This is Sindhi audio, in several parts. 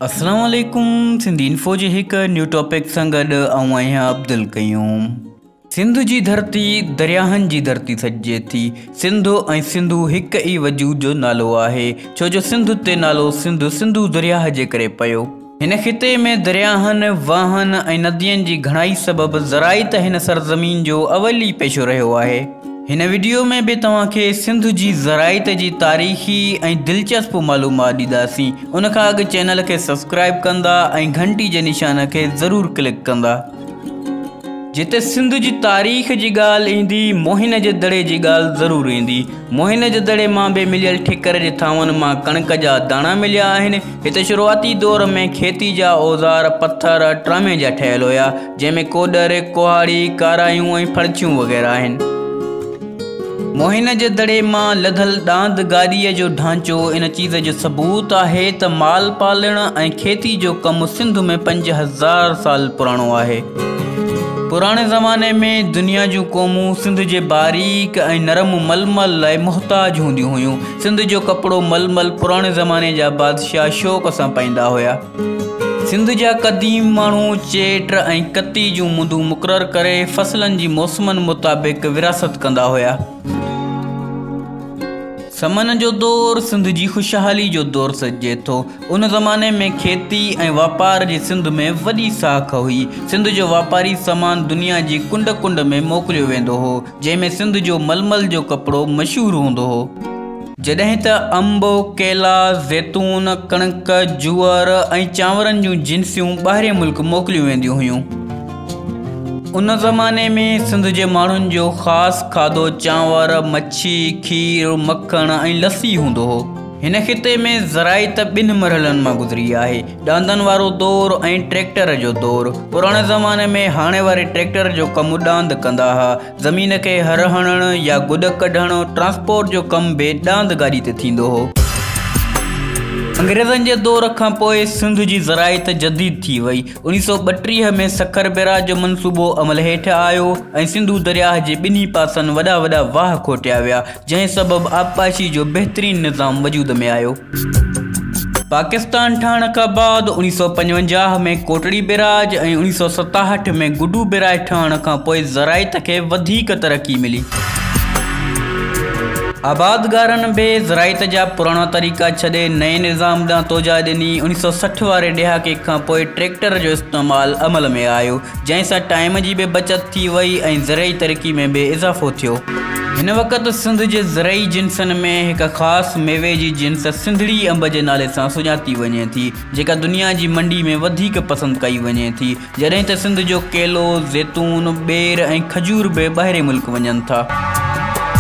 السلام عليڪم سنڌي انفو جي هڪ نيو ٽاپڪ سان گڏ آئون آهيان عبدالقيوم سنڌ جي ڌرتي درياهن جي ڌرتي سڏجي ٿي سنڌو ۽ سنڌو هڪ ئي وجود جو نالو آهي ڇو جو سنڌ تي نالو سنڌ سنڌو درياهه جي ڪري پيو هن خطي ۾ درياهن واهن ۽ ندين جي گهڻائي سبب زرائت هن سرزمين جو اول ئي پيشو رهيو آهي هن وڊيو ۾ به توهان کي سنڌ جي زراعت جي تاريخي ۽ دلچسپ معلومات ڏينداسين ان کان اڳ چينل کي سبسڪرائيب ڪندا ۽ گهنٽي جي نشان کي ضرور ڪلڪ ڪندا. جتي سنڌ جي تاريخ جي ڳالهه ايندي موهن جي دڙي جي ڳالهه ضرور ايندي. موهن جي دڙي مان به مليل ٺڪر جي ٿانون مان ڪڻڪ جا داڻا مليا آهن. هتي شروعاتي دور ۾ کيتي جا اوزار پٿر ٽرامي جا ٺهيل هيا. جنهن ۾ ڪوڏر، ڪهاڙي، ڪارايون ۽ ڦڙڇيون وغيره آهن. موهن جي دڙي مان لڌل ڏاند گاڏيء جو ڍانچو ان چيز جو ثبوت آهي ته مال پالڻ ۽ کيتي جو ڪم سنڌ ۾ پنج هزار سال پراڻو آهي. پراڻي زماني ۾ دنيا جون قومون سنڌ جي باريڪ ۽ نرم ململ لاء محتاج هونديون هيون. سنڌ جو ڪپڙو ململ پراڻي زماني جا بادشاهه شوق سان پائيندا هيا. سنڌ جا قديم ماڻهو چيٽ ۽ ڪتي جون مندون مقرر ڪري فصلن جي موسمن مطابق ورهاست ڪندا هيا. سمن جو دور سنڌ جي خوشحالي جو دور سڏجي ٿو. ان زماني ۾ کيتي ۽ واپار جي سنڌ ۾ وڏي ساک هئي. سنڌ جو واپاري سامان دنيا جي ڪنڊ ڪنڊ ۾ موڪليو ويندو هو. جنهن ۾ سنڌ جو ململ جو ڪپڙو مشهور هوندو هو، جڏهن ته انب، ڪيلا، زيتون، ڪڻڪ، جوئر ۽ چانورن جون جنسيون ٻاهرين ملڪ موڪليون وينديون هيون. ان زماني ۾ سنڌ جي ماڻهن جو خاص کاڌو چانور، مڇي، کير، مکڻ ۽ لسي هوندو هو. هن خطي ۾ زراعت ٻن مرحلن مان گذري آهي. ڏاندن وارو دور ۽ ٽريڪٽر جو دور پراڻي زماني ۾ هاڻي واري ٽريڪٽر جو ڪم ڏاند ڪندا ها زمين کي هر هڻڻ يا گڏ ڪڍڻ ٽرانسپورٽ جو ڪم به ڏاند گاڏي تي ٿيندو هو انگريزن جي دور کان پوء سنڌ جي زراعيت جديد ٿي وئي اوڻيھ سؤ ٻٽيهه ۾ سکر بيراج جو منصوبو عمل هيٺ آيو ۽ سنڌو درياهه جي ٻنهي پاسن وڏا وڏا واهه کوٽيا ويا جنهن سبب آبپاشي جو بهترين نظام وجود ۾ آيو. پاڪستان ٺهڻ کان بعد اڻيهه سؤ پنجونجاهه ۾ ڪوٽڙي بيراج ۽ اڻيهه سؤ ستاهٺ ۾ گڊو بيراج ٺهڻ کان پوء زراعت کي وڌيڪ ترقي ملي. آبادگارن به زراعت جا پراڻا طريقا ڇڏي نئين نظام ڏانهن توجهه ڏني. اڻيهه سؤ سٺ واري ڏهاڪي کان پوء ٽريڪٽر جو استعمال عمل ۾ آيو. جنهن سان ٽائيم جي به بچت ٿي وئي ۽ زرعي ترقي ۾ به اضافو ٿيو. هن وقت سنڌ جي زرعي جنسن ۾ هڪ خاص ميوي جي جنس سنڌڙي انب جي نالي سان سڃاتي وڃي ٿي، جيڪا دنيا جي منڊي ۾ وڌيڪ پسند ڪئي وڃي ٿي، جڏهن ته سنڌ جو ڪيلو، زيتون، ٻير ۽ کجور به ٻاهرين ملڪ وڃن ٿا.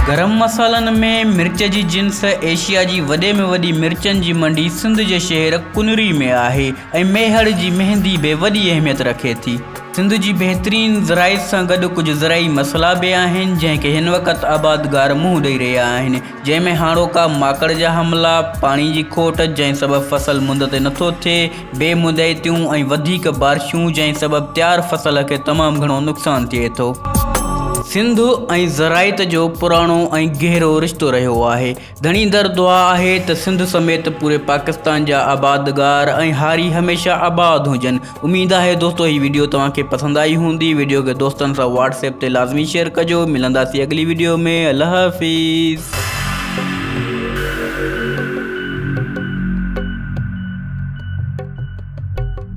گرم مصالحن ۾ مرچ جي جنس ايشيا جي وڏي ۾ وڏي مرچن جي منڊي سنڌ جي شهر ڪنري ۾ آهي، ۽ ميهڙ جي مهندي به وڏي اهميت رکي ٿي. سنڌ جي بهترين زراعت سان گڏ ڪجهه زرعي مسئلا به آهن جنهن کي هن وقت آبادگار منهن ڏئي رهيا آهن جنهن ۾ هاڻوڪا ماڪڙ جا حملا، پاڻي جي کوٽ جنهن سبب فصل مند تي نٿو ٿئي، بي مدعيتيون ۽ وڌيڪ بارشون جنهن سبب تيار فصل کي تمام گهڻو نقصان ٿئي ٿو. سنڌ ۽ زراعت جو پراڻو ۽ گهرو رشتو رهيو آهي. ڌڻيندڙ دعا آهي ته سنڌ سميت پوري پاڪستان جا آبادگار ۽ هاري هميشه آباد هجن اميد آهي دوستو هي ويڊيو توهان کي پسند آئي هوندي ويڊيو کي دوستن سان واٽس ايپ تي لازمي شيئر ڪجو ملنداسي اڳلي ويڊيو ۾ الله حافظ